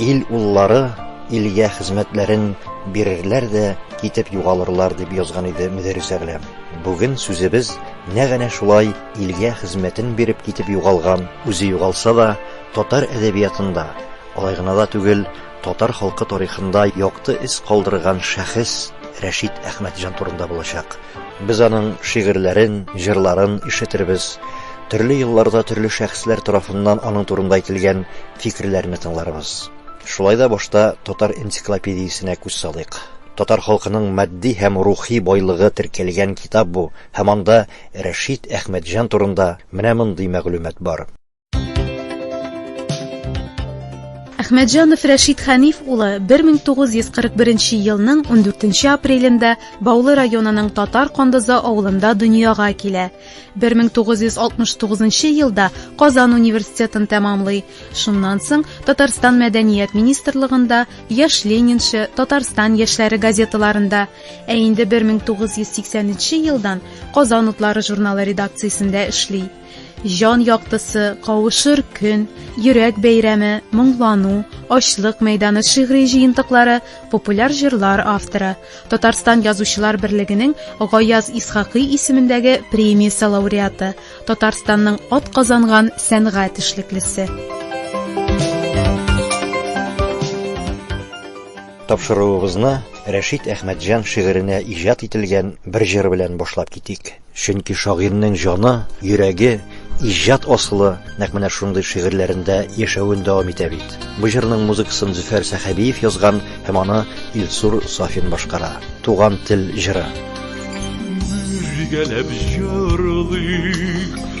Ил уллары илгә хезмәтләрен бирерләр дә китеп югалырлар, дип язган иде Мөдәррис Әгъләм. Бүген сүзебез нәкъ әнә шулай илгә хезмәтен биреп китеп югалган, үзе югалса да, татар әдәбиятында, алай гына да түгел, Татар халкы тарихында якты эз калдырган шәхес Рәшит Әхмәтҗан турында булачак. Без аның шигырьләрен, җырларын ишетербез, төрле елларда төрле шәхесләр тарафыннан аның турында әйтелгән фикерләрне тыңларбыз. Шулай да башта Татар энциклопедиясенә күз салыйк. Татар халкының матди һәм рухи байлыгы теркәлгән китап бу һәм анда Рәшит Әхмәтҗан турында менә мондый мәгълүмат бар. Әхмәтҗанов Рәшит Хәниф улы 1941 елның 14 апрелендә Баулы районының Татар Кондызы авылында дөньяга килә. 1969 елда Казан университетын тәмамлый. Шуннан соң Татарстан мәдәният министрлыгында Яш Ленинчы, Татарстан яшьләре газеталарында, ә инде 1983 елдан Казан утлары журналы редакциясендә эшли. Җан яктысы, кавышыр көн, йөрәк бәйрәме, моңлану, ачлык мәйданы шигъри җыентыклары, популяр җырлар авторы, Татарстан язучылар берлегенең Гаяз Исхакый исемендәге премиясе лауреаты, Татарстанның ат казанган сәнгать эшлеклесе. Тапшыруыбызны Рәшит Әхмәтҗан шигыренә иҗат ителгән бер җыр белән башлап китик. Чөнки шагыйрьнең җаны, йөрәге, иҗат асылы нәкъ менә шундый шигырьләрендә яшәвен дәвам итә бит. Бу җырның музыкасын Зөфәр Сәхәбиев язган һәм аны Илсур Сафин башкара. Туган тел җыры. Бергәләп җырлыйк.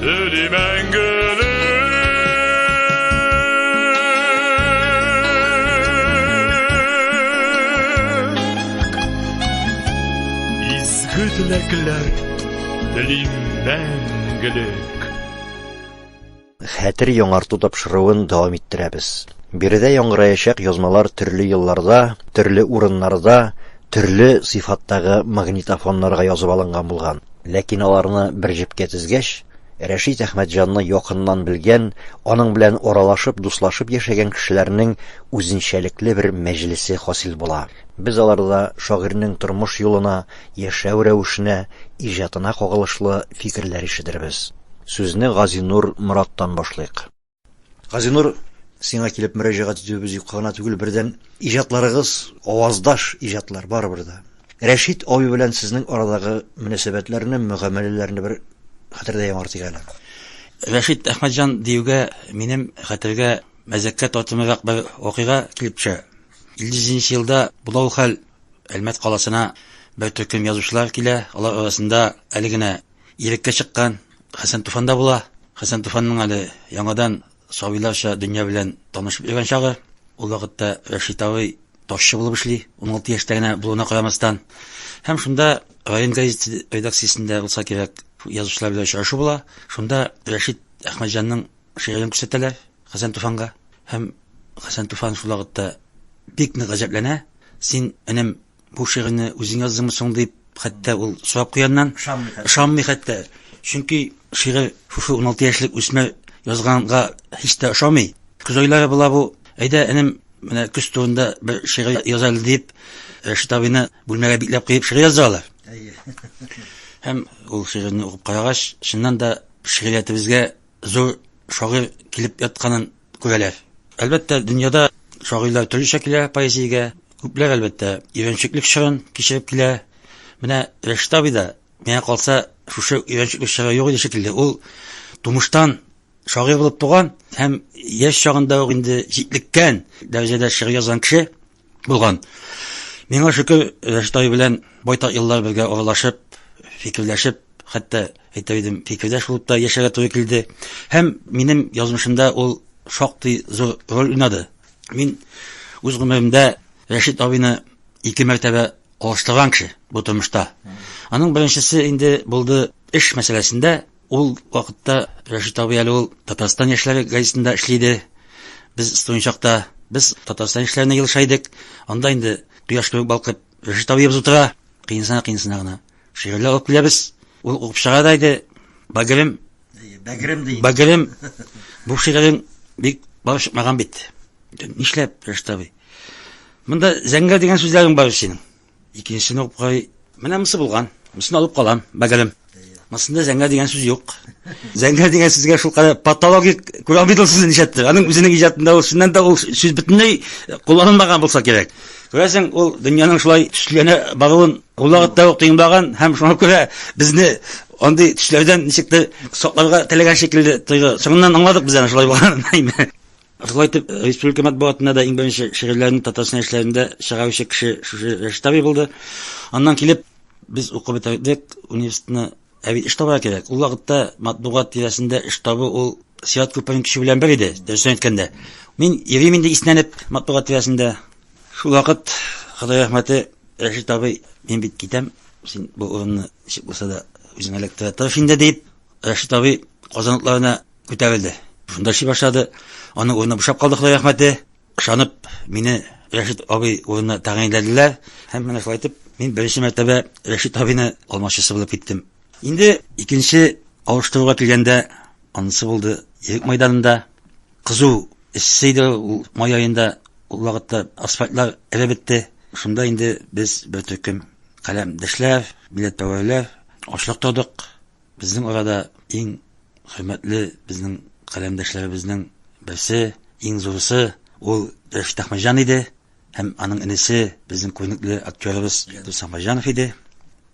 Тели мәңгелек Изге теләкләр Телим мәңгелек Хәтер яңарту тапшыруын дәвам иттерәбез. Биредә яңгыраячак язмалар төрле елларда, төрле урыннарда, төрле сыйфаттагы магнитофоннарга язып алынган булган. Ләкин аларны бер җепкә тезгәч, Рәшит Әхмәтҗанны якыннан белгән, аның белән аралашып, дуслашып яшәгән кешеләрнең үзенчәлекле бер мәҗлесе хасил була. Без аларда шагыйрьнең тормыш юлына, яшәү рәвешенә, иҗатына кагылышлы фикерләр ишетербез. Сүзне Газинур Мораттан башлыйк. Газинур, сиңа килеп мөрәҗәгать итүебез юкка гына түгел, бердән, иҗатларыгыз аваздаш иҗатлар барыбер дә. Рәшит абый белән сезнең арадагы мөнәсәбәтләрне, мөгамәләләрне бер хәтердә яңартыйк әле. Рәшит Әхмәтҗан диюгә минем хәтергә мәзәккә тартымлырак бер вакыйга килеп төшә. 57 елда була ул хәл, Әлмәт каласына бер төркем язучылар килә, алар арасында әле генә Илеккә чыккан Хәсән Туфанда була. Хәсән Туфанның әле яңадан сабыйларча дөнья белән танышып йөргән чагы. Ул вакытта Рәшит абый ташчы булып эшли, 16 яшьтә генә булуына карамастан. Һәм шунда район газеты редакциясендә булса кирәк, язучылар белән очрашу була. Шунда Рәшит Әхмәтҗанның шигырен күрсәтәләр Хәсән Туфанга. Һәм Хәсән Туфан шул вакытта бик нык гаҗәпләнә. Син, энем, Бу шигырьне үзең яздыңмы соң дип, хәтта ул сорап куяннан ышанмый хәтта. Чөнки шигырь шушы 16 яшьлек үсмер язганга һич тә ошамый. Көз айлары була бу. Әйдә, энем, менә көз турында бер шигырь яза әле дип, Рәшит абыйны бүлмәгә бикләп куеп шигырь яздыралар. Әйе. Һәм ул шигырьне укып карагач, чыннан да шигъриятебезгә зур шагыйрь килеп ятканын күрәләр. Әлбәттә, дөньяда шагыйрьләр төрлечә килә поэзиягә. Күпләр, әлбәттә, өйрәнчеклек чорын кичереп килә. Менә Рәшит абый да, миңа калса, шушы өйрәнчеклек чоры юк иде шикелле. Ул тумыштан шагыйрь булып туган һәм яшь чагында ук инде җитлеккән дәрәҗәдә шигырь язган кеше. Булган. Миңа шөкер, Рәштай белән байтак еллар бергә аралашып, фикерләшеп, хәтта әйтер идем, фикердәш булып та яшәргә туры килде. Һәм минем язмышымда ул шактый зур роль уйнады. Мин үз гомеремдә Рәшит абыйны ике мәртәбә алыштырган кеше бу тормышта. Аның беренчесе инде булды эш мәсьәләсендә, Ул вакытта Рәшит абый әле ул Татарстан яшьләре газетында эшли иде. Без студент чакта без Татарстан яшьләренә елыша идек. Анда инде кояш кебек балкып Рәшит абыебыз утыра. Кыенсына кыенсына гына шигырьләр алып киләбез. Ул укып чыгара да иде. Бәгерем, Бәгерем ди. Бәгерем, бу шигырен бик бар чыкмаган бит. Нишләп, Рәшит абый? Монда зәңгәр дигән сүзләрең бар синең. Икенчесен укый. Менә монысы булган. Монысын алып калам, бәгелем. Монысында зәңгәр дигән сүз юк. Зәңгәр дигән сүзгә шул кадәр патологик күрә алмыйдыр сүзен нишләттер. Аның үзенең иҗатында ул чыннан да ул сүз бөтенләй кулланылмаган булса кирәк. Күрәсең, ул дөньяның шулай төсләнә баруын ул вакытта ук тыймлаган һәм шуңа күрә безне андый төсләрдән ничектер сакларга теләгән шикелле тоелды. Соңыннан аңладык без аны шулай булганын. Шулай итеп, республика матбугатында да иң беренче шигырьләрне Татарстан яшьләрендә чыгаручы кеше шушы Рәшит абый булды. Аннан килеп, без укып бетердек университетны. Ә бит эш табарга кирәк. Ул вакытта матбугат тирәсендә эш табу ул Сират күперен кичү белән бер иде, дөресен әйткәндә. Мин йөрим инде иснәнеп матбугат тирәсендә. Шул вакыт, Ходай рәхмәте, Рәшит абый, мин бит китәм, син бу урынны ничек булса да үзеңә эләктерә тырыш инде, дип, Рәшит абый Казан утларына Күтәрелде. Шунда эшли башлады. Аның урыны бушап калды, Ходай рәхмәте. Ышанып, мине Рәшит абый урынына тәгаенләделәр. Һәм менә шулай итеп, мин беренче мәртәбә Рәшит абыйны алмашчысы булып киттем. Инде икенче алыштыруга килгәндә, анысы булды Ирек мәйданында. Кызу эссе иде ул май аенда, ул вакытта асфальтлар эреп бетте. Шунда инде без бер төркем каләмдәшләр, милләтпәрвәрләр ашлык тордык. Безнең арада иң хөрмәтле безнең каләмдәшләребезнең берсе, иң зурысы ул Рәшит Әхмәҗан иде һәм аның энесе безнең күренекле актерыбыз Дус Әхмәҗанов иде.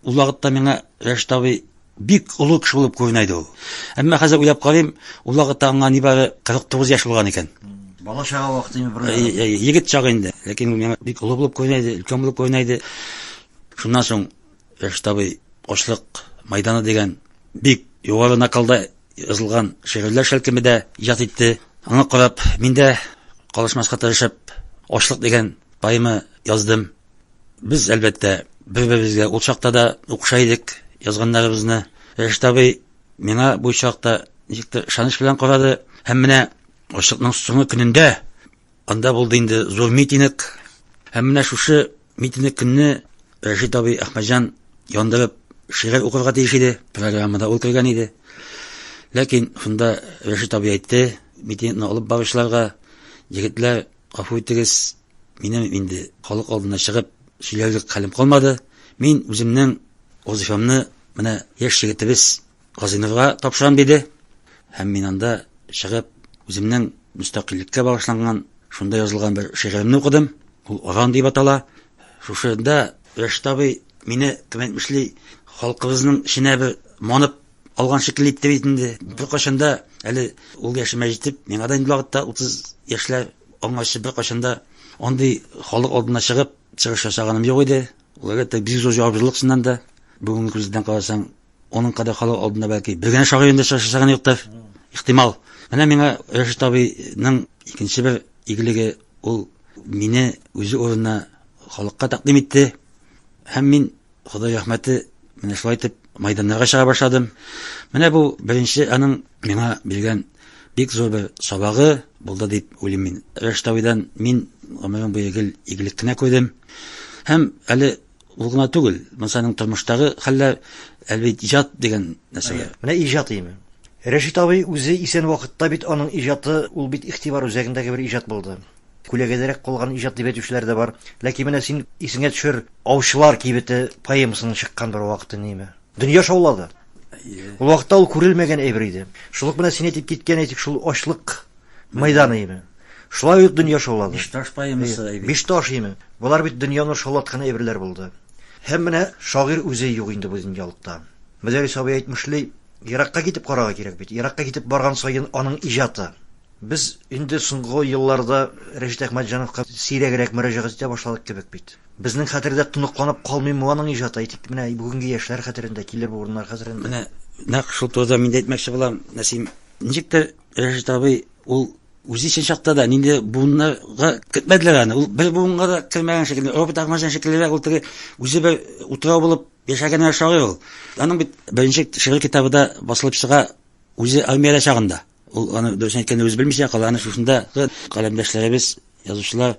Ул вакытта миңа Рәшит абый бик олы кеше булып күренә иде ул. Әмма хәзер уйлап карыйм, ул вакытта аңа нибары 49 яшь булган икән. Бала чага вакыты инде бер. Егет чагы инде. Ләкин ул миңа бик олы булып күренә иде, өлкән булып күренә иде. Шуннан соң Фәрештәбый Ашлык мәйданы дигән бик югары накалда язылган шигырьләр шәлкеме дә иҗат итте. Аңа карап, мин дә калышмаска тырышып, Ашлык дигән поэма яздым. Без, әлбәттә, бер-беребезгә ул чакта да укыша идек язганнарыбызны. Фәрештәбый миңа бу чакта ничектер ышаныч белән карады һәм менә Ашлыкның соңгы көнендә анда булды инде зур митинг һәм менә шушы Митинг көнне Рәшит абый Әхмәтҗан яндырып шигырь укырга тиеш иде. Программада ул кергән иде. Ләкин шунда Рәшит абый әйтте, митингны алып баручыларга, егетләр, гафу итегез, минем инде халык алдына чыгып сөйләрлек хәлем калмады. Мин үземнең вазифамны менә яшь егетебез Казыйновга тапшырам диде. Һәм мин анда чыгып, үземнең мөстәкыйльлеккә багышланган, шунда язылган бер шигыремне укыдым. Ул Аран дип атала. Шушында Рәшит абый мине, кем әйтмешли, халкыбызның эченә бер манып алган шикелле итте бит инде. Беркайчан да әле ул яшемә җитеп, миңа да инде вакытта 30 яшьләр аңарчы беркайчан да андый халык алдына чыгып, чыгыш ясаганым юк иде. Ул әлбәттә, бик зур җаваплылык чыннан да. Бүгенге күздән карасаң, Аның кадахалау алдында бәлки бер генә шагыйрь инде очрашачагын юктыр. Ихтимал. Менә миңа Рәшит абыйның икенче бер игелеге ул мине үзе урынына халыкка тәкъдим итте. Һәм мин Ходай рәхмәте менә шулай итеп майданнарга чыга башладым. Менә бу беренче аның миңа биргән бик зур бер сабагы булды дип уйлыйм мин. Рәшит абыйдан мин гомерем буе гел игелек кенә күрдем. Һәм әле Ул гына түгел, Мансаның тормыштагы хәлләр әлбәт иҗат дигән нәрсәгә. Менә иҗат име. Рәшит абый үзе исән вакытта бит аның иҗаты, ул бит игътибар үзәгендәге бер иҗат булды. Күләгәдәрәк калган иҗат дип әйтүчеләр дә бар. Ләкин менә син исеңә төшер, Аучылар кибете поэмасының чыккан бер вакыты неме? Дөнья шаулады. Ул вакытта ул күрелмәгән әйбер иде. Шул ук менә син әйтеп киткән, әйтик, шул ачлык Майдан име? Шулай ук дөнья шаулады. Бишташ поэмасы әйбер. Бишташ име? Болар бит дөньяны шаулаткан әйберләр булды. Һәм менә шагыйрь үзе юк инде бу дөньялыкта. Мөдәрис абый әйтмешли, еракка китеп карарга кирәк бит. Еракка китеп барган саен аның иҗаты. Без инде соңгы елларда Рәшит Әхмәтҗановка сирәгрәк мөрәҗәгать итә башладык кебек бит. Безнең хәтердә тоныкланып калмыймы аның иҗаты? Әйтик, менә бүгенге яшьләр хәтерендә, килер буыннар хәтерендә. Менә нәкъ шул турыда мин дә әйтмәкче булам, Нәсим. Ничектер Рәшит абый ул үзе өчен чакта да нинди буыннарга кертмәделәр аны. Ул бер буынга да кермәгән шикелле, робот Ахмаҗан шикеллерәк ул теге үзе бер утрау булып яшәгән шагыйрь ул. Аның бит беренче шигырь китабы да басылып чыга үзе армиядә чагында. Ул аны дөресен әйткәндә үзе белмичә кала, аны шушындагы каләмдәшләребез Язучылар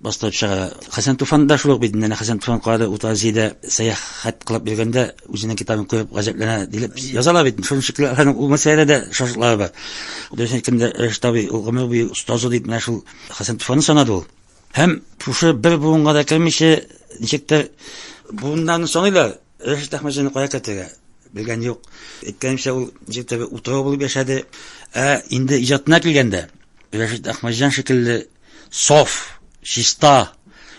бастырып чыгара. Хәсән Туфан да шул ук бит. Менә Хәсән Туфан калада Утазиядә сәяхәт кылып йөргәндә үзенең китабын күреп гаҗәпләнә дип язалар бит. Шуның шикелле аларның ул мәсьәләдә дә шатлыклары бар. Дөрес әйткәндә, Рәшит абый ул гомер буе остазы дип менә шул Хәсән Туфанны санады ул. Һәм шушы бер буынга да кермичә, ничектер буыннарны саныйлар. Рәшит Әхмәтҗанны кая кертергә? Белгән юк. Әйткәнемчә, ул ничектер утрау булып яшәде. Ә инде иҗатына килгәндә, Рәшит Әхмәтҗан шикелле саф, чиста,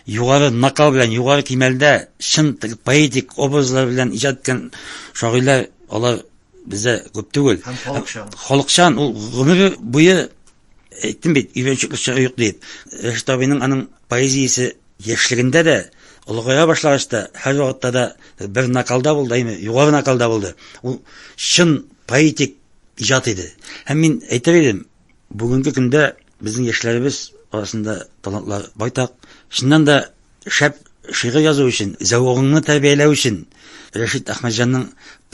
югары накал белән, югары кимәлдә, чын поэтик образлар белән иҗат иткән шагыйрьләр, алар бездә күп түгел. Һәм халыкчан. Халыкчан, ул гомере буе әйттем бит, өйрәнчекле чоры юк дип. Рәшит абыйның аның поэзиясе яшьлегендә дә, олыгая башлагач та, һәр вакытта да бер накалда булды, әйме, югары накалда булды. Ул чын поэтик иҗат иде. Һәм мин әйтер идем, Бүгенге көндә безнең яшьләребез арасында талантлар байтак. Чыннан да шәп шигырь язу өчен, зәвыгыңны тәрбияләү өчен Рәшит Әхмәтҗанның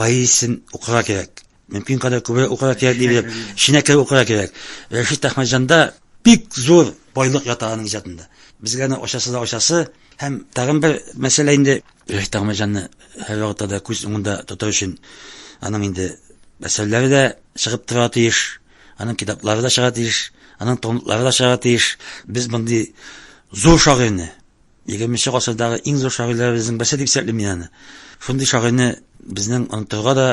поэзиясен укырга кирәк. Мөмкин кадәр күбрәк укырга кирәк дип белеп, эченә кереп укырга кирәк. Рәшит Әхмәтҗанда бик зур байлык ята аның иҗатында. Безгә аны ачасы да ачасы һәм тагын бер мәсьәлә инде Рәшит Әхмәтҗанны һәр вакытта да күз уңында тоту өчен аның инде әсәрләре дә чыгып тора тиеш. Аның китаплары да чыга тиеш, аның томлыклары да чыга тиеш. Без мондый зур шагыйрьне, 20 гасырдагы иң зур шагыйрьләребезнең берсе дип исәплим мин аны. Шундый шагыйрьне безнең онытырга да,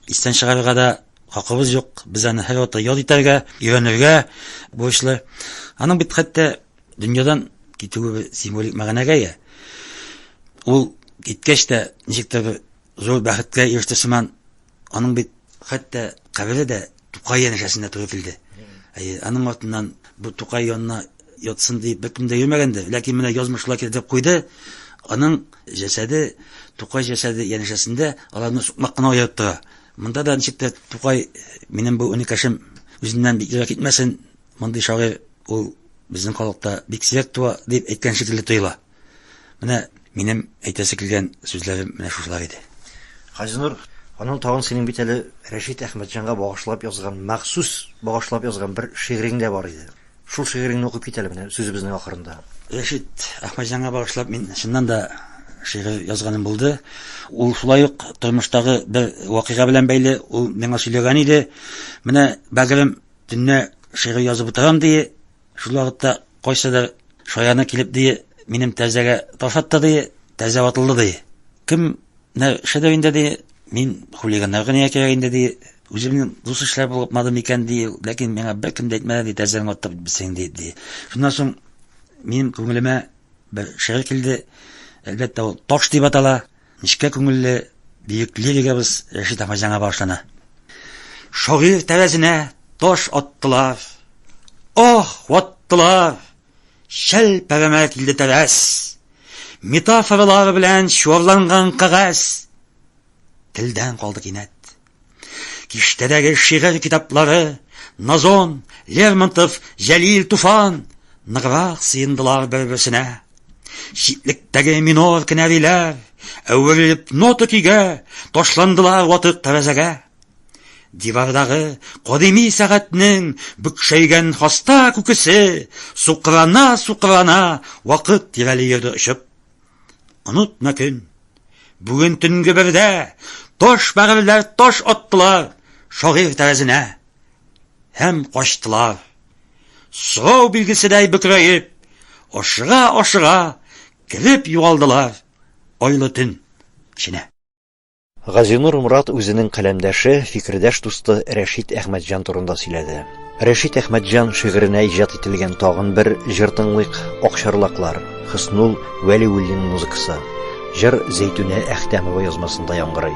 истән чыгарырга да хакыбыз юк. Без аны һәр вакытта яд итәргә, өйрәнергә бурычлы. Аның бит хәтта дөньядан китүе символик мәгънәгә ия. Ул киткәч тә ничектер зур бәхеткә иреште сыман Аның бит хәтта кабере дә Тукай янәшәсендә төзетелде. Әйе, аның артыннан бу Тукай янына ятсын дип беркем дә йөрмәгәндер, ләкин менә язмышлар кертеп куйды. Аның җәсәде Тукай җәсәде янәшәсендә аларны сукмак кына аерып тора. Монда да ничек тә Тукай минем бу өнекәшем үзеннән бик ерак китмәсен, мондый шагыйрь ул безнең халыкта бик сирәк туа дип әйткән шикелле тоела. Менә минем әйтәсе килгән сүзләрем менә шушылар иде. Газинур, аның тагын синең бит әле Рәшит Әхмәтҗанга багышлап язган, махсус багышлап язган бер шигырең дә бар иде. Шул шигыреңне укып кит әле менә сүзебезнең ахырында. Рәшит Әхмәтҗанга багышлап мин чыннан да шигырь язганым булды. Ул шулай ук тормыштагы бер вакыйга белән бәйле, ул миңа сөйләгән иде. Менә, бәгырем, төнлә шигырь язып утырам, ди, Шул вакытта кайсыдыр шаяны килеп дие, минем тәрзәгә таш атты дие, тәрзә ватылды дие. Кем нәршәдә инде дие, мин хулиганнарга нигә кирәк инде дие, үземнең дус эшләр булмады микән дие, ләкин миңа беркем дә әйтмәде дие, тәрзәне атты бисең дие. Ди. Шуннан соң минем күңелемә бер шигырь килде. Әлбәттә, ул таш дип атала. Нечкә күңелле бөек лиригабыз Рәшит апа җаңа башлана. Шагыйр тәрәзенә таш аттылар. Ох, ваттылар! Шәл пәрәмә килде тәрәз. Метафоралар белән чуарланган кагаз. Телдән калды кинәт. Киштәдәге шигырь китаплары Назон, Лермонтов, Җәлил Туфан ныграк сыендылар бер-берсенә. Читлектәге минор кенәриләр әверелеп нота көйгә ташландылар ватык тәрәзәгә. Дивардагы кадими сәгатьнең бөкшәйгән хаста күкесе сукрана-сукрана вакыт тирәли йөрде очып. Онытма көн. Бүген төнге бердә таш бәгырьләр таш аттылар шагыйрь тәрәзенә һәм качтылар. Сорау билгеседәй бөкрәеп, ашыга-ашыга кереп югалдылар айлы төн эченә. Газинур Морат үзенең каләмдәше, фикердәш дусты Рәшит Әхмәтҗан турында сөйләде. Рәшит Әхмәтҗан шигыренә иҗат ителгән тагын бер җыр тыңлыйк, Акчарлаклар, Хөснул Вәлиуллин музыкасы. Җыр Зәйтүнә Әхтәмова язмасында яңгырый.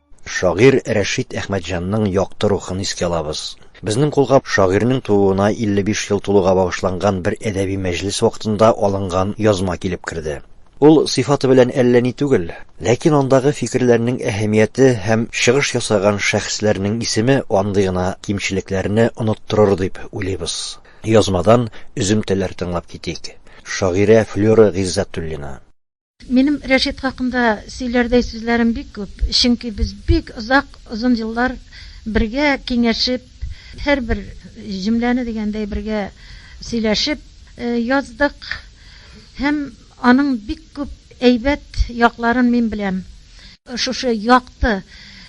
Шагыйрь Рәшит Әхмәтҗанның якты рухын искә алабыз. Безнең кулга шагыйрьнең тууына 55 ел тулуга багышланган бер әдәби мәҗлес вакытында алынган язма килеп керде. Ул сыйфаты белән әллә ни түгел, ләкин андагы фикерләрнең әһәмияте һәм чыгыш ясаган шәхесләрнең исеме андый гына кимчелекләрне оныттырыр дип уйлыйбыз. Язмадан өземтәләр тыңлап китик. Шагыйрә Флера Гыйззәтуллина. Минем Рәшит хакында сөйләрдәй сүзләрем бик күп, чөнки без бик озак, озын еллар бергә киңәшеп, һәрбер җөмләне дигәндәй бергә сөйләшеп яздык һәм аның бик күп әйбәт якларын мин беләм. Шушы якты,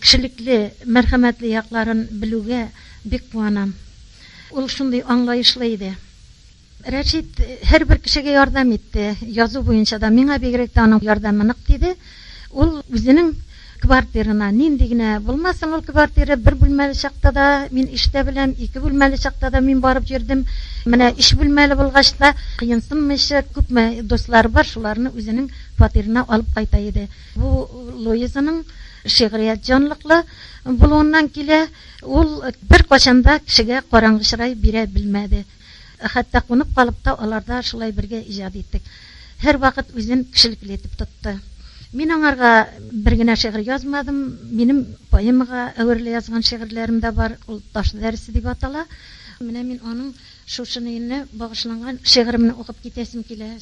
кешелекле, мәрхәмәтле якларын белүгә бик куанам. Ул шундый аңлаешлы иде. Рәшит һәрбер кешегә ярдәм итте, язу буенча да. Миңа бигрәк тә аның ярдәме нык тиде. Ул үзенең квартирына, нинди генә булмасын ул квартира, бер бүлмәле чакта да мин эштә беләм, ике бүлмәле чакта да мин барып йөрдем. Менә өч бүлмәле булгач та, кыенсынмыйча, күпме дуслары бар, шуларны үзенең фатирына алып кайта иде. Бу Луизаның шигърият җанлыклы булуыннан килә. Ул беркайчан да кешегә караңгы чырай бирә белмәде. Ә хәтта кунып калып та аларда шулай бергә иҗат иттек. Һәрвакыт үзен кешелекле итеп тотты. Мин аңарга бер генә шигырь язмадым. Минем поэмага әверелә язган шигырьләрем дә бар. Ул Таш дәресе дип атала. Менә мин аның шушыны илне багышланган шигыремне укып китәсем килә.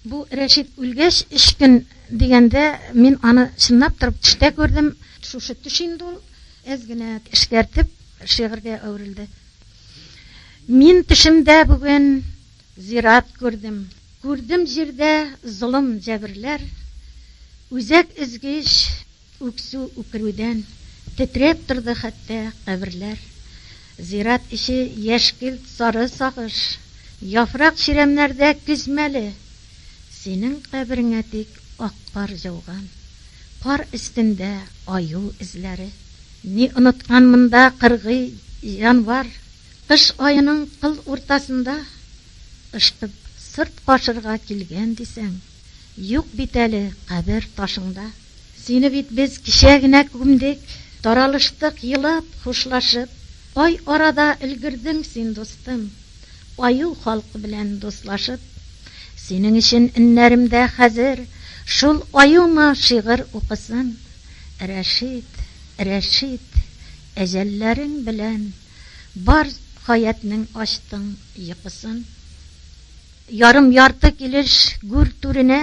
Бу Рәшит үлгәч өч көн дигәндә мин аны чынлап торып төштә күрдем. Шушы төш инде ул әз генә эшкәртеп шигырьгә әверелде. Мин төшемдә бүген зират күрдем. Күрдем җирдә золым, җәберләр. Үзәк өзгеч үксү, үкерүдән. Тетрәп торды хәтта каберләр. Зират эче яшькелт, сары сагыш. Яфрак чирәмнәрдә көз мәле. Синең кабереңә тик ак кар җауган. Кар өстендә аю эзләре. Ни оныткан монда кыргый җанвар, Кыш аеның кыл уртасында Ышкып сырт кашырга килгән дисәң, Юк бит әле кабер ташыңда. Сине бит без кичә генә күмдек, Таралыштык елап, хушлашып, Ай арада өлгердең син, дустым, Аю халкы белән дуслашып. Синең өчен эннәремдә хәзер Шул аюма шигырь укысын. Рәшит, Рәшит, әҗәлләрең белән Бар хәятнең ачтың йокысын. Ярым-ярты килеш гүр түренә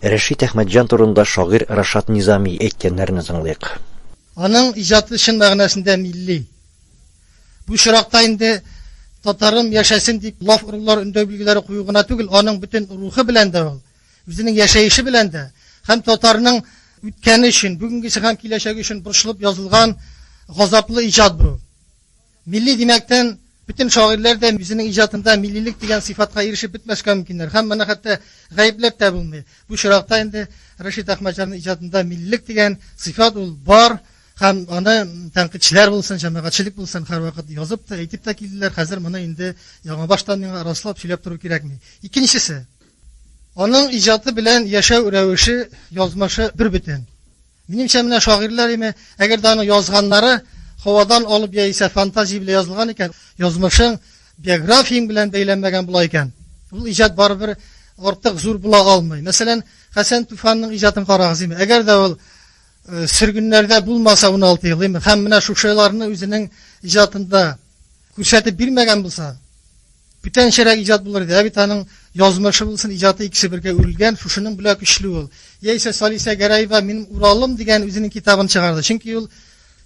Рәшит Әхмәтҗан турында шагыйрь Рашат Низами әйткәннәрне тыңлыйк. Аның иҗаты чын мәгънәсендә милли. Бу очракта инде татарым яшәсен дип лаф орулар, өндәү билгеләре кую гына түгел, аның бөтен рухы белән дә ул, үзенең яшәеше белән дә һәм татарның үткәне өчен, бүгенгесе һәм киләчәге өчен борчылып язылган газаплы иҗат бу. Милли димәктән, бөтен шагыйрьләр дә үзенең иҗатында миллилек дигән сыйфатка ирешеп бетмәскә мөмкиннәр һәм моны хәтта гаепләп тә булмый. Бу чиракта инде Рәшит Әхмәтҗанның иҗатында миллилек дигән сыйфат ул бар һәм аны тәнкыйтьчеләр булсын, җәмәгатьчелек булсын, һәрвакыт язып та, әйтеп тә килделәр. Хәзер моны инде яңабаштан миңа раслап сөйләп тору кирәкми. Икенчесе. Аның иҗаты белән яшәү рәвеше, язмышы бербөтен. Минемчә, менә шагыйрьләр име, әгәр дә аның язганнары һавадан алып яисә фантазия белән язылган икән, язмышың биографияң белән бәйләнмәгән була икән, ул иҗат барыбер артык зур була алмый. Мәсәлән, Хәсән Туфанның иҗатын карагыз име, әгәр дә ул сөргеннәрдә булмаса 16 ел, име, һәм менә шушыларны үзенең иҗатында Күрсәтеп бирмәгән булса, бүтәнчәрәк иҗат булыр иде. Ә бит аның язмышы булсын, иҗаты икесе бергә үрелгән, шушының белән көчле ул. Яисә Салисә Гәрәева минем Уралым дигән үзенең китабын чыгарды. Чөнки ул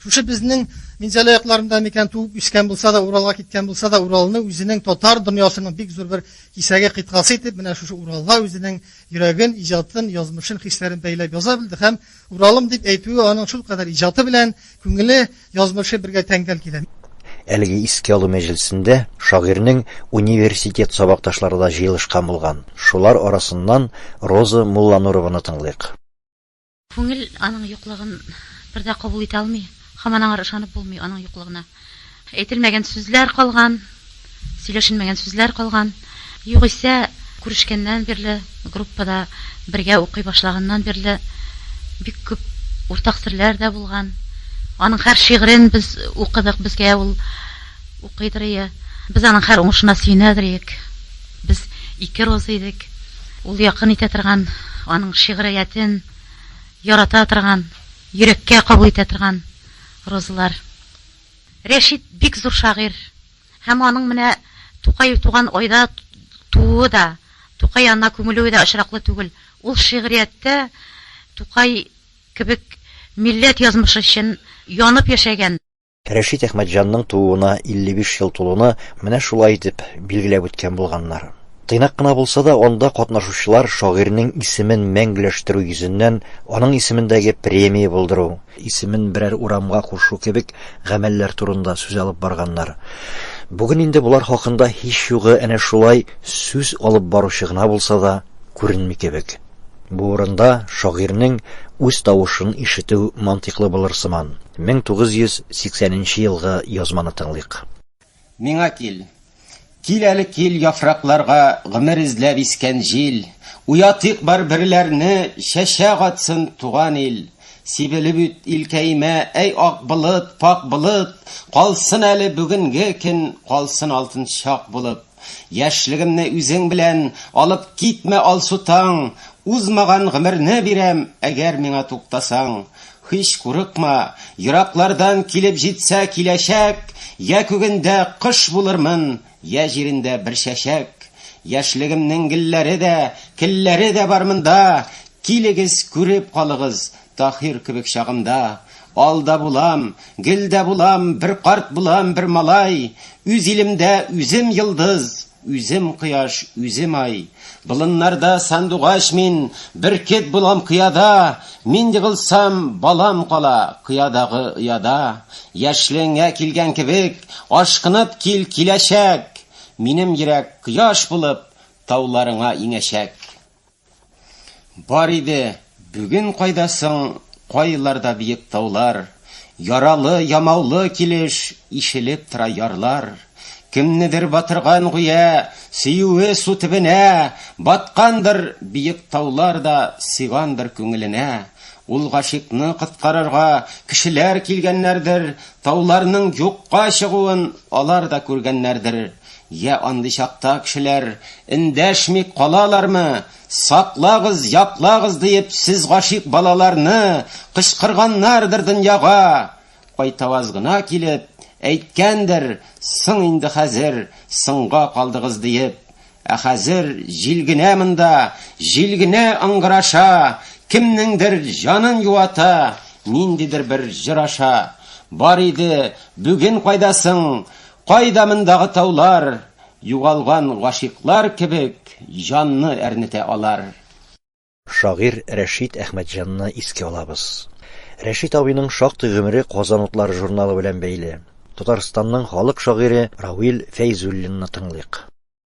шушы безнең Минзәлә якларында микән туып үскән булса да, Уралга киткән булса да, Уралны үзенең татар дөньясының бик зур бер кисәге кыйтгасы итеп, менә шушы Уралга үзенең йөрәген, иҗатын, язмышын, хисләрен бәйләп яза белде һәм Уралым дип әйтүе аның шул кадәр иҗаты белән, күңеле Язмышы бергә тәңгәл килә. Әлеге искә алу мәҗлесендә шагыйрьнең университет сабакташлары да җыелышкан булган. Шулар арасыннан Роза Мулланурованы тыңлыйк. Күңел аның юклыгын бер дә кабул итә алмый, һаман аңар ышанып булмый, аның юклыгына әйтелмәгән сүзләр калган. Сөйләшенмәгән сүзләр калган. Югыйсә, күрешкәннән бирле, группада бергә укый башлаганнан бирле бик күп уртак серләр дә булган. Аның һәр шигырен без укыдык, безгә ул укыйдыр ие. Без аның һәр уңышына сөенәдер иек. Без ике роза идек. Ул якын итә торган, аның шигъриятен ярата торган, йөрәккә кабул итә торган розалар. Рәшит бик зур шагыйрь һәм аның менә Тукай туган айда тууы да, Тукай янына күмелүе дә очраклы түгел. Ул шигърияттә Тукай кебек милләт язмышы өчен янып яшәгән. Рәшит Әхмәтҗанның тууына 55 ел тулуны менә шулай итеп билгеләп үткән булганнар. Тыйнак кына булса да, анда катнашучылар шагыйрьнең исемен мәңгеләштерү йөзеннән аның исемендәге премия булдыру, исемен берәр урамга кушу кебек гамәлләр турында сүз алып барганнар. Бүген инде болар хакында һич югы әнә шулай сүз алып баручы гына булса да күренми кебек. Бу урында шагыйрьнең үз тавышын ишетү мантыйклы булыр сыман. 1980 нче елгы язманы тыңлыйк. Миңа кил. Кил әле кил яфракларга гомер эзләп искән җил, Уятыйк бар берләрне, чәчәк атсын туган ил. Сибелеп үт илкәемә, әй ак болыт, пак болыт, Калсын әле бүгенге көн, калсын алтын чак булып. Яшьлегемне үзең белән алып китмә алсу таң, Узмаган гомерне бирәм, әгәр миңа туктасаң. Һич курыкма, ераклардан килеп җитсә киләчәк, Йә күгендә кош булырмын, йә җирендә бер чәчәк. Яшьлегемнең гелләре дә, келләре дә бар монда, Килегез, күреп калыгыз, Таһир кебек чагымда. Ал да булам, гөл дә булам, бер карт булам, бер малай, Үз илемдә үзем йолдыз, Үзем кояш, үзем ай. Болыннарда сандугач мин, Бөркет булам кыяда. Мин егылсам, балам кала, Кыядагы ояда. Яшьлегеңә килгән кебек, Ашкынып кил киләчәк. Минем йөрәк кояш булып, Тауларыңа иңәчәк. Бар иде, бүген кайда соң, кайларда биек таулар, Яралы, ямаулы килеш, ишелеп тора ярлар. Кемнедер батырган гүя, сөюе су төбенә, Баткандыр биек таулар да, сыйгандыр күңеленә. Ул гашикны коткарырга, кешеләр килгәннәрдер, Тауларның юкка чыгуын алар да күргәннәрдер. Йә андый чакта кешеләр эндәшми калалармы, саклагыз, яклагыз диеп сез гашыйк балаларны кычкырганнардыр дөньяга, кайтаваз гына килеп, әйткәндер, соң инде хәзер соңга калдыгыз диеп, ә хәзер җил генә монда, җил генә ыңгыраша, кемнеңдер җанын юата, ниндидер бер җыр аша. Бар иде, бүген кайдасың, Кайда мондагы таулар, Югалган гашыйклар кебек Җанны әрнетә алар. Шагыйрь Рәшит Әхмәтҗанны искә алабыз. Рәшит абыйның шактый гомере Казан утлары журналы белән бәйле. Татарстанның халык шагыйре Рауил Фәйзуллинны тыңлыйк.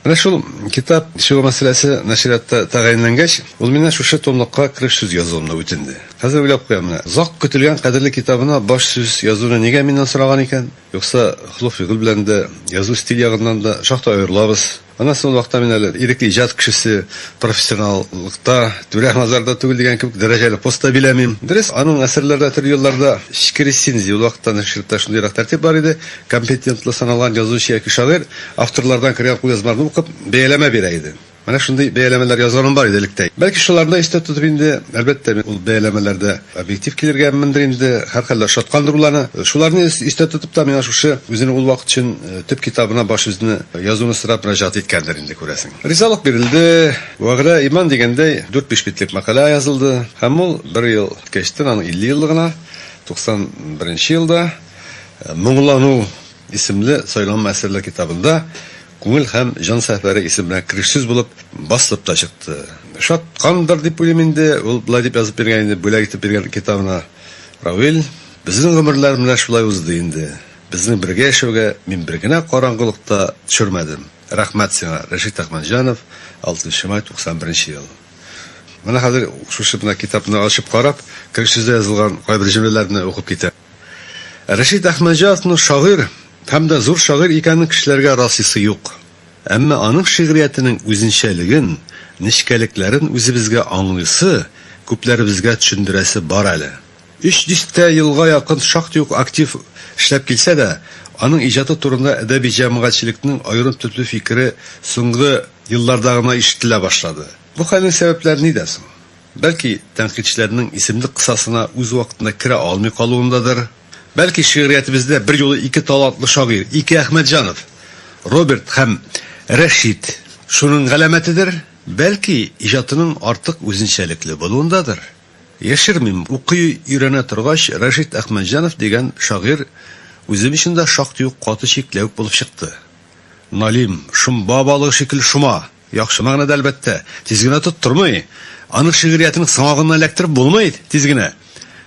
Менә шул китап чыгу мәсьәләсе нәшриятта тәгаенләнгәч, ул миннән шушы томлыкка кереш сүз язуымны үтенде. Хәзер уйлап куям, менә озак көтелгән кадерле китабына баш сүз язуны нигә миннән сораган икән? Юкса холык-фигыль белән дә, язу стиль ягыннан да шактый аерылабыз. Аннан соң ул вакытта мин әле ирекле иҗат кешесе, профессионаллыкта, түрә мазарда түгел дигән кебек дәрәҗәле пост та биләмим. Дөрес, аның әсәрләре дә төрле елларда, эчке рецензия, ул вакытта нәшриятта шундыйрак тәртип бар иде, Компетентлы саналган язучы яки шагыйрь авторлардан кергән кулъязмаларны укып, бәяләмә бирә иде. Менә шундый бәяләмәләр язганым бар иде электә. Бәлки шуларны да истә тотып инде, әлбәттә, мин ул бәяләмәләрдә объектив килергәмендер инде, һәрхәлдә ошаткандыр ул аны. Шуларны истә тотып та, миңа шушы үзенең ул вакыт өчен төп китабына баш үзне язуны сорап мөрәҗәгать иткәндер инде, күрәсең. Ризалык бирелде. Вәгъдә, иман дигәндәй, дүрт-биш битлек мәкалә язылды. Һәм ул бер ел үткәчтен, аның 50 еллыгына, 91 нче елда, Моңлану исемле сайланма әсәрләр китабында Күңел һәм җан сәфәре исеменә керешсез булып басылып та чыкты. Шаткандыр дип уйлыйм инде, ул болай дип язып биргән инде, бүләк итеп биргән китабына Равил, Безнең гомерләр менә шулай узды инде. Безнең бергә яшәүгә мин бер генә караңгылык та төшермәдем. Рәхмәт сиңа, Рәшит Әхмәтҗанов, 6 нчы май, 91 нче ел. Менә хәзер шушы менә китапны ачып карап, керешсез дә язылган кайбер җөмләләрне укып китәм. Рәшит Әхмәтҗановның шагыйрь һәм дә зур шагыйрь икәнен кешеләргә расыйсы юк. Әмма аның шигъриятенең үзенчәлеген, нечкәлекләрен үзебезгә аңлыйсы, күпләребезгә төшендерәсе бар әле. Өч дистә елга якын шактый ук актив эшләп килсә дә, аның иҗаты турында әдәби җәмәгатьчелекнең аерым төпле фикере соңгы елларда гына ишетелә башлады. Бу хәлнең сәбәпләре нидә соң? Бәлки, тәнкыйтьчеләрнең исемлек кысасына үз вакытында керә алмый калуындадыр? Бәлки, шигъриятебездә берьюлы ике талантлы шагыйрь, ике Әхмәтҗанов, Роберт һәм Рәшит, шуның галәмәтедер? Бәлки, иҗатының артык үзенчәлекле булуындадыр? Яшермим, укый, өйрәнә торгач, Рәшит Әхмәтҗанов дигән шагыйрь үзем өчен дә шактый ук каты чикләвек булып чыкты. Налим, шомба балыгы шикелле шома! Яхшы мәгънәдә, әлбәттә. Тиз генә тоттырмый. Аның шигъриятен саңагыннан эләктереп булмый тиз генә.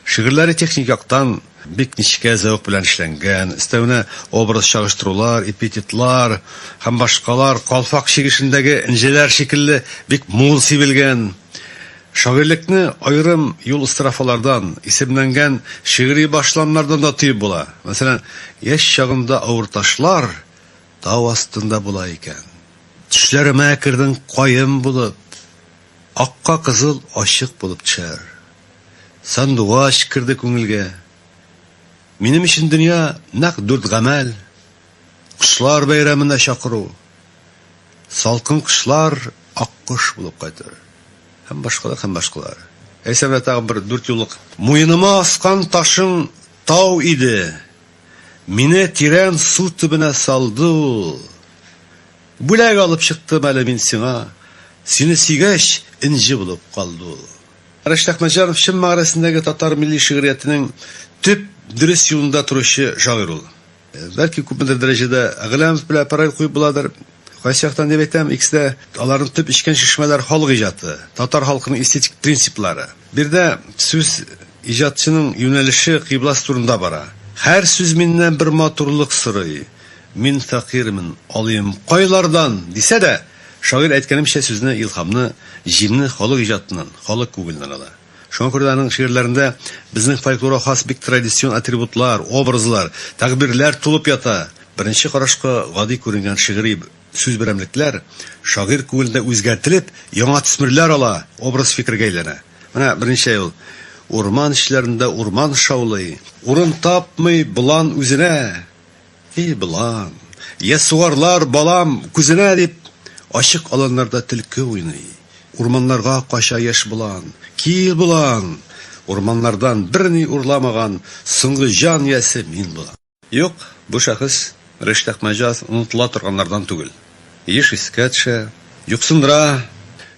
Шигырьләре техник яктан бик нечкә зәвык белән эшләнгән, өстәвенә образ чагыштырулар, эпитетлар һәм башкалар калфак чигешендәге энҗеләр шикелле бик мул сибелгән. Шагыйрьлекне аерым юл-эстрофалардан, исемләнгән шигъри башламнардан да тоеп була. Мәсәлән, Яшь чагында авыр ташлар, Тау астында була икән. Төшләремә кердең каен булып, Акка кызыл ачык булып төшәр. Сандугач керде күңелгә. Минем өчен дөнья нәкъ дүрт гамәл, Кошлар бәйрәменә чакыру, Салкын кышлар аккош булып кайту һәм башкалар һәм башкалар. Әйсәмә тагын бер дүртьюллык. Муеныма аскан ташың тау иде, Мине тирән су төбенә салды ул. Бүләк алып чыктым әле мин сиңа, Сине сөйгәч, энҗе булып калды ул. Рәшит Әхмәтҗанов чын мәгънәсендәге татар милли шигърияттенең төп, дөрес юлында торучы шагыйрь ул. Бәлки күпмедер дәрәҗәдә Гыйләмов белән параллель куеп буладыр. Кайсы яктан дип әйтәм, икесе дә аларның төп эчкән чишмәләре халык иҗаты, татар халкының эстетик принциплары. Бу йөрдә сүз иҗатчының юнәлеше, кыйбласы турында бара. Һәр сүз миннән бер матурлык сорый. Мин фәкыйрьмен, алыйм кайлардан? дисә дә, шагыйрь әйткәнемчә сүзне, илһамны, җимне халык иҗатыннан, халык күгеленнән ала. Шуңа күрә дә аның шигырьләрендә безнең фольклорга хас бик традицион атрибутлар, образлар, тәгъбирләр тулып ята. Беренче карашка гади күренгән шигъри сүз берәмлекләр шагыйрь күңелендә үзгәртелеп, яңа төсмерләр ала, образ-фикергә әйләнә. Менә беренче ул, Урман эчләрендә урман шаулый. Урын тапмый болан үзенә. И, балам, яссуарлар, балам, күзенә, дип, ачык аланнарда төлке уйный. Урманнарга кача яшь болан. Кил, болан! Урманнардан берни урламаган соңгы җан иясе мин булам. Юк, бу шәхес Риштәк Мәҗаз онытыла торганнардан түгел. еш искә төшә, юксындыра.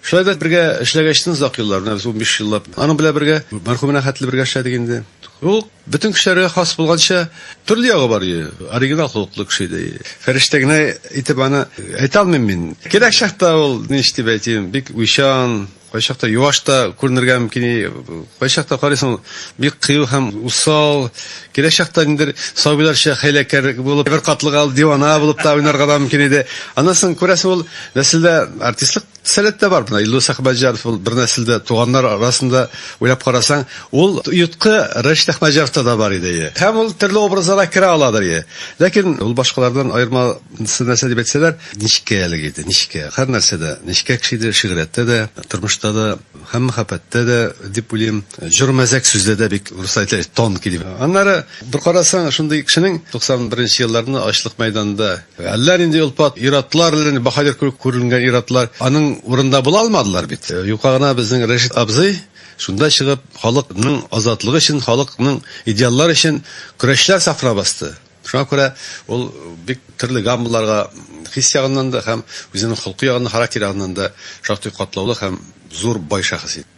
Шулай да бергә эшләгәчтен озак еллар, менә без унбиш еллап аның белән бергә, мәрхүм менә хәтле бергә эшләдек инде. Ул бөтен кешеләргә хас булганча, төрле ягы бар иде, оригинал холыклы кеше иде. Фәрештә генә итеп аны әйтә алмыйм мин. Кирәк чакта ул, ничек дип әйтим, бик уйчан, Кайчакта юаш та күренергә мөмкин, кайчакта карыйсың, бик кыю һәм усал, киләчәктә ниндер сабыйларча хәйләкәр булып, бер катлыга ул дивана булып та уйнарга да мөмкин иде. Аннан соң күрәсең, ул нәселдә артистлык сәләт тә бар. Менә Илдус Әхмәтҗаров ул бер нәселдә, туганнар арасында уйлап карасаң, ул йоткы Рәшит Әхмәтҗаровта да бар иде. Һәм ул төрле образларга керә аладыр. Ләкин ул башкалардан аерма Нәрсә нәрсә дип әйтсәләр, нечкә әлеге иде, нечкә. Һәр нәрсәдә нечкә кеше иде, шигърияттә дә, тормышта да һәм мәхәббәттә дә дип уйлыйм. Җор-мәзәк сүздә дә бик русча әйтелә, тонкий дип. Аннары бер карасаң, шундый кешенең 91 нче елларны ачлык мәйданында әллә нинди олпат ир-атлар, әллә нинди баһадир кебек күренгән ир-атлар аның урынында була алмадылар бит. Юкка гына безнең Рәшит абзый шунда чыгып, халыкның азатлыгы өчен, халыкның идеаллары өчен көрәшләр сафына басты. Шуңа күрә ул бик төрле гаммаларга хис ягыннан да һәм үзенең холкы ягыннан, характер ягыннан да шактый катлаулы һәм зур бай шәхес иде.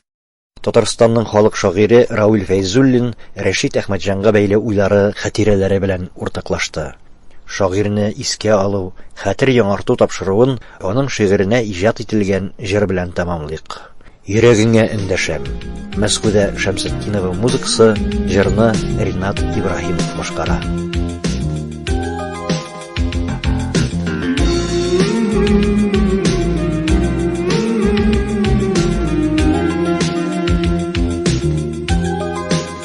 Татарстанның халык шагыйре Равил Фәйзуллин Рәшит Әхмәтҗанга бәйле уйлары, хатирәләре белән уртаклашты. Шагыйрьне искә алу, хәтер яңарту тапшыруын аның шигыренә иҗат ителгән җыр белән тәмамлыйк. Йөрәгеңә эндәшәм. Мәскүдә Шәмсетдинова музыкасы, җырны Ринат Ибраһимов башкара.